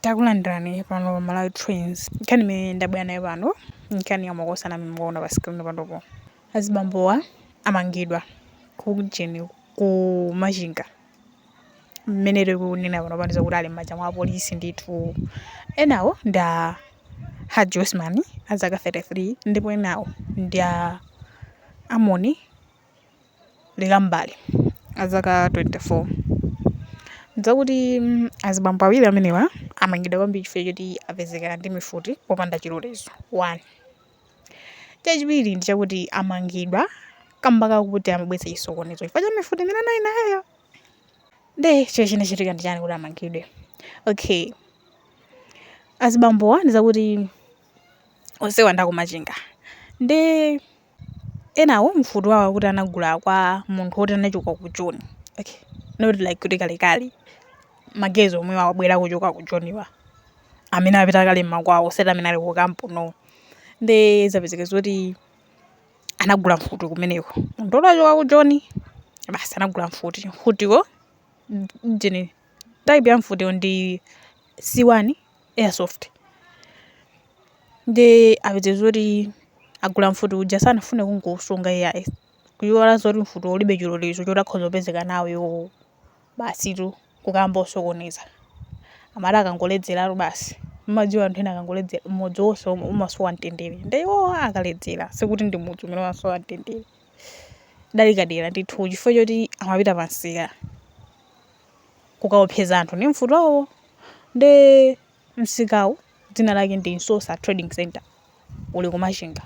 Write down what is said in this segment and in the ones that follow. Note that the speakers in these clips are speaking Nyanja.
Takulandirani pano pa Malawi Trends. Nkhani imene ndabwera nayo pano nkhani ya makosana amene mukuona pa screen panopo. Azibambowa amangidwa ku ujeni ku Machinga. Mmene tikunena pano pano ndi zakuti ali m'manja mwa apolisi ndithu. Enawo ndi a Haji Osman a zaka 33 ndipo enawo ndi a Amoni Likambali azaka 24 ndi zakuti mm, azibambo awiri amenewa amangidwa kwambiri chifukwa choti apezekera ndi mifuti popanda chilolezo 1 chachiwiri ndi chakuti amangidwa kamba kakuti amabweretsa chisokonezo chifukwa cha mifuti imene anali nayo nde icho chinachitika ndi chani kuti amangidwe okay azibambowa ndi zakuti onsewa ndi aku Machinga nde enawo mfuti wawo akuti anagula kwa munthu woti anachoka ku joni okay. not like kuti kalekale magaizi omwe wabwera kuchoka ku joniwa amene apita kale mmakwawo osati amene ali ku kampu no nde zapezeka zoti anagula mfuti kumeneko munthu woti achoka ku joni basi anagula mfuti mfutiwo ujeni type ya mfutiwo ndi c1 airsoft nde apezeka zoti agula mfuti uja sanafune kungosunga iyayi kuyiwala zoti mfuti ulibe chilolezo choti akhoza kupezeka nawo iwowo basitu kukamba zosokoneza amati akangoledzeratu basi mmadziwa anthu ena akangoledzera mudzi wonse um- umasowa mtendere nde iwowo akaledzera sikuti ndi mudzi umene umasowa mtendere koma kadera ndithu chifukwa choti amapita pansika kukaopseza anthu ndi mfutiwo nde msikawu dzina lake ndi Nsosa Trading Center uli ku Machinga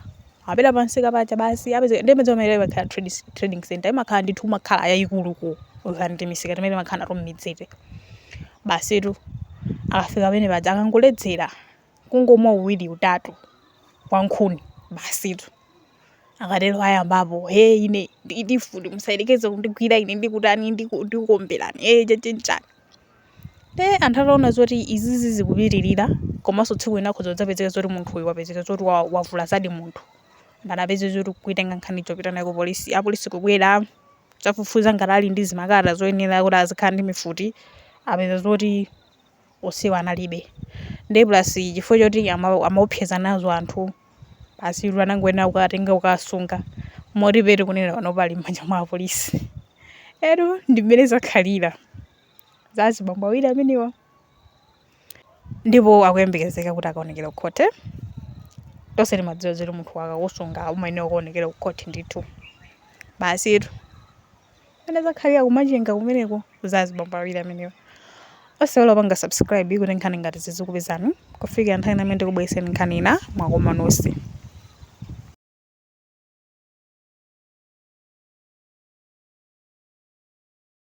apita pa msika paja basi apezeka ndi mudzi umene imakhala trading, trading center imakhala ndithu umakhala yayikulu ku than timisika timene timakhala nato mmidziti basitu akafika pamene paja akangoledzera kungomwa uwiri utatu wa nkhuni basitu akatero ayambapo he ine ndili ndi mfuti musayerekeze kundigwira ine ndikutani ndiku- ndikuomberani e chani chani nde anthu ataona zoti izizi zikupitirira komanso tsiku lina akhoza kudzapezeka zoti munthu uyu wapezeka zoti wa- wavulazadi munthu nde anapeza zoti kuitenga nkhaniyo kupita nayo ku polisi apolisi kubwera kudzafufuza ngati ali ndi zikalata zoyenera kuti azikhala ndi mifuti apeza zoti onsewa analibe nde plus chifukwa choti ama- amaopseza nazo anthu basitu anangoyenera kuwatenga kukawasunga moti pomwe tikunena pano ali m'manja mwa apolisi eya ndi mmene zakhalira za azibambo awiri amenewa ndipo akuyembekezeka kuti akaonekere ku khoti tonse timadziwa zoti munthu akakusunga umayenera kukaonekera ku khoti ndithu basitu Mmene zakhalira ku Machinga kumeneko za azibambo awiri amenewa. Osaiwala kupanga subscribe kuti nkhani ngati zizikupezani kufikira nthawi ina imene ndikubwereseni nkhani ina mwakoma nonse.